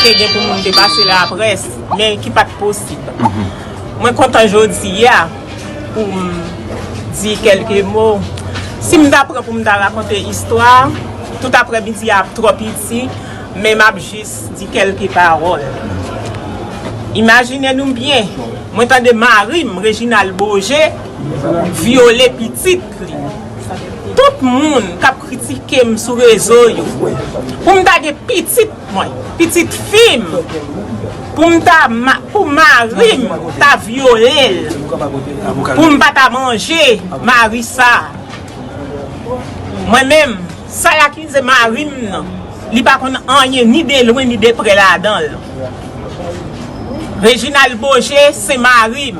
Te gen pou moun te pase la près, men ki pat posib. Mwen kontan jodi a pou m di kelke mo. Si m ta pran pou m ta rakonte istwa, tout aprè midi a ap twò piti, men m ap jis di kelke pawòl. Imajine nou byen, mwen tande mari m, Reginald Beaugé, vyole pitit. Tout moun kap kritikem sou rezo yo poum ta gen pitit mwen pitit fim poum ta pou marim ta vyolel poum pa ta manje mari sa mwen menm sa y akize marim nan li pa konn anyen ni de lwen ni de prè ladanl Reginald Beaugé se marim.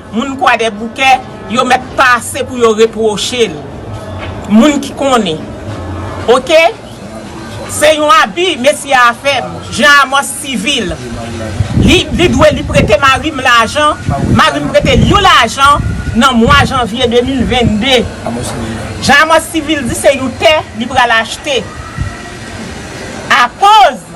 Moun kwadèboukè yo mèt pase pou yo repwoche l moun ki konnen ok se yon abi mesye a fè m jan amòs sivil li li dwe li prete mari m lajan mari m prete l yon lajan nan mwa janvye 2022 jan amòs sivil di se yon tè li pral achte akoz.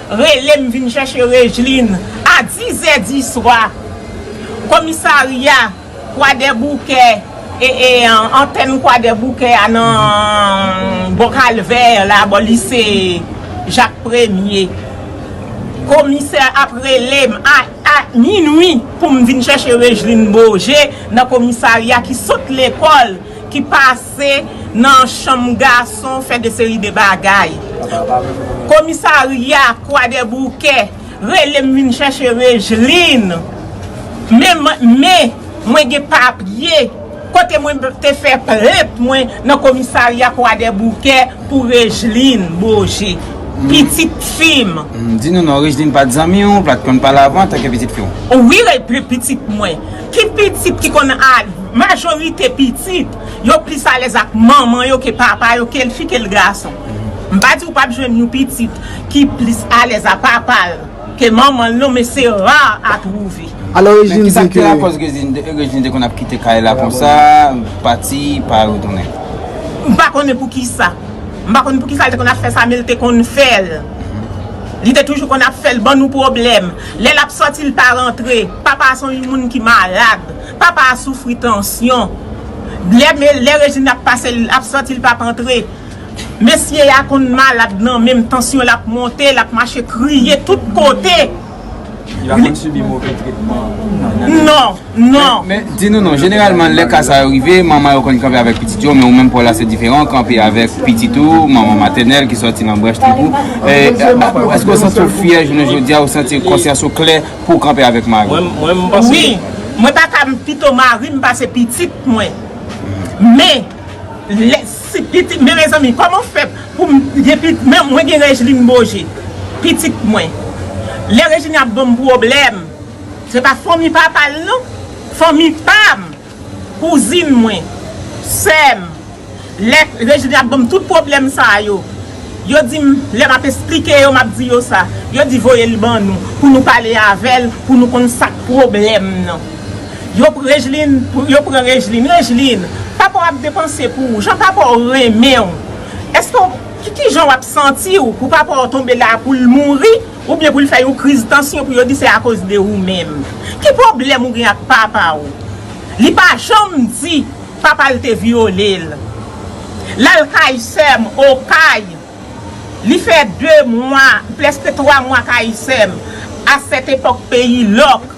Relem vin chèche Rejlin a 10 zè diswa. Komisarya kwadèboukè antèn kwadèboukè a nan bò kalvè la bò lise jak premye. Komisè ap relem a minwi poum vin chèche Rejlin Boje nan komisarya ki sot lekòl ki pase. Se nan chanm gason fè de seri de bagay. Komisarya kwadèboukè rele m vin chèche Regeline. Men men mwen gen papye kote mwen te fè plent mwen nan komisarya kwadèboukè pou Regeline Beaugé. Pitit fi m. Di nou non Regeline pat zanmi w, pat konn pale avan antanke pitit fi w? Wi pitit mwen. Ki pitit ki konn ale? Majorite pitit, yo plis alèz ak manman yo ke papa yo, ke l fi, ke l gason. M pa di ou pap jwenn yon pitit ki plis alèz a papa l ke manman l non, men se ra a twouve. Men kisa k te lakòz Regine te konn ap kite kay la konsa, pati, pa retounen? M pa konnen poukisa. M pa konnen poukisa l te konn ap fè sa, men l te konn fè l. Li te toujou konn ap fè l ban nou pwoblèm. Lè l ap sòti l pa rantre. Papa a se yon moun ki malad. Papa a soufri tansyon. Lè Rejin ap pase l ap sòti l pap antre. Mesye a konn malad nan men m tansyon l ap monte l ap mache kriye tout kote. Li pa konn sibi move tretman nan? Non. Non! Men, di nou non, jeneralman lè ka sa yo rive, manman yo konn kanpe avèk pitit yo, men ou menm pa w la se diferan, ou kanpe avèk pitit ou, manman matènèl ki sòti nan branch trip ou. E, èske ou santi w fyè jounen jodi a, ou santi konsyans ou klè pou w kanpe avèk mari w? Mwen, m panse. Wi! Mwen ta ka pito mari m pase pitit mwen. Men, lè, si pitit, men mezanmi, kòman w fè pou m gen pitit, men mwen gen Rejlin Boje, pitit mwen. Lè Rejlin ap ban m pwoblèm. Se pa fanmi papa l non. Fanmi pam. Kouzin mwen. Sèm. Lè Reginne ap banm tout pwoblèm sa yo. Yo dim lè map esplike yo map di yo sa. Yo di voye l ban nou. Pou nou pale avè l. Pou nou konn sak pwoblèm nan. Yo pran Reginne. Yo pran Reginne. Reginne. Papa w ap depanse pou ou. Jan papa w renmen w. Eske w. Kijan w ap santi w. Pou papa w tonbe la pou l mouri. Ou byen pou li fè yon kriz tansyon pou yo di se akoz de ou menm. Ki pwoblèm ou gen ak papa ou? Li pa janm di papa l te vyole l. L al kay sè m Okay. Li fè 2 mwa, prèske 3 mwa kay sè m. A sèt epòk peyi lòk.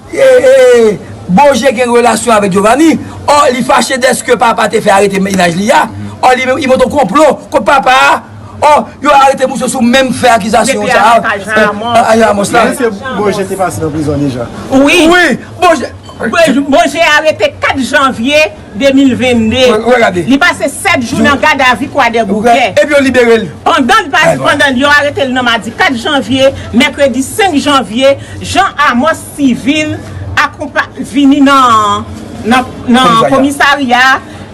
Boje gen relasyon avèk Giovanni or li fache dèske papa te fè arete mennaj li a or li menm i monte yon konplo kont papa a or yo arete misye sou menm fè akizasyon sa a Depi avan Jean Ramos la Eske Boje te pase nan prizon deja? Wi Boje arete 4 janvye. 2022, li pase 7 jou nan gadavi Kwadèboukè, pandan yo arete l nan madi 4 janvye, mèkredi 5 janvye, Jean Amos Civil vini nan komisarya,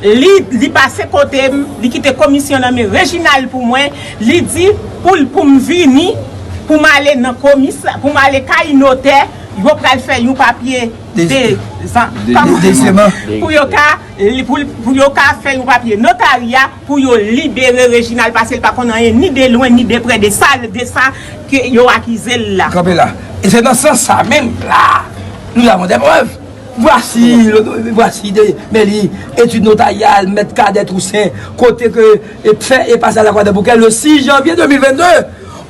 li pase kote m, li kite komisyon nan men Reginald pou mwen, li di pou m vini, pou m ale kay notè, yo pral fè yon papye. pou yo ka fè yon papye notarya pou yo libere Reginald pase l pa konn anyen ni de lwen ni de prè de sa ke yo akize l la. Kanpe la. E se nan sans sa menm la a nou avon dè prèv. Vwasi, vwasi de men li etid notaryal mèt Cadet Toussaint kote ke fè e pase a Lakwadèboukè le 6 janvye 2022.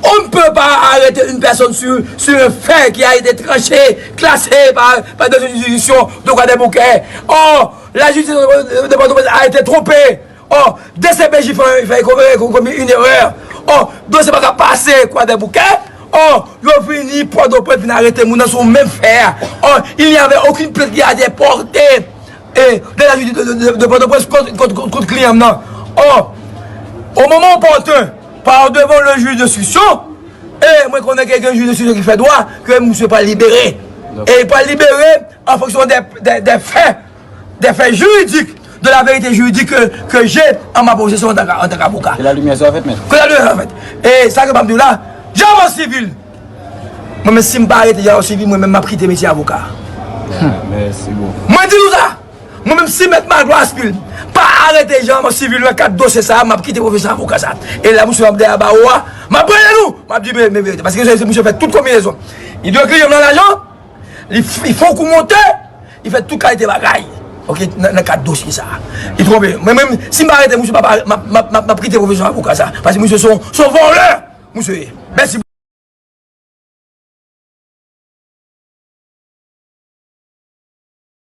On ne peut pas arrêter une personne sur un fait qui a été tranché, classé par des juridictions de Kwadèboukè. Or, la justice de Port-au-Prince a été trompée. Or, dcpj fè komi une erreur. Or, dosye pa ka pase Kwadèboukè. Or, yo vini Port-au-Prince vin arete moun nan sou menm fè a. Or, il n'y avait aucune plainte qui a été portée de la justice de Port-au-Prince kont kliyan m nan. Or, au moment opportun, Par devant le juge d'instruction, e mwen konnen ke gen juge d'instruction ki fè dwa, ke misye pral libere. E li pral libere en fonction des faits, des faits juridiques, de la vérité juridique ke je en ma possession en tant qu'avocat. Ke la lumière soit faite, maître. Ke la lumière soit faite. E sa ke map diw la, Diaman Civil, mwen menm sim pa arete Diaman Civil mwen menm map kite metye avocat. Merci beaucoup. Mwen di nou sa! Mwen menm si mèt Magloire Aspil pa arete Jean Amos Civil nan kad dosye sa a map kite pwofesè avoka sa a e la misye ap dèyè bawo a map prale nou map di men verite paske se misye fè tout konbinezon li dwe kliyem nan lajan li fon kou monte li fè tout kalite bagay ok nan kad dosye sa a li twonpe mwen menm si m pa arete misye papa map kite pwofesè avoka sa a paske misye son vòlè misye ye mèsi.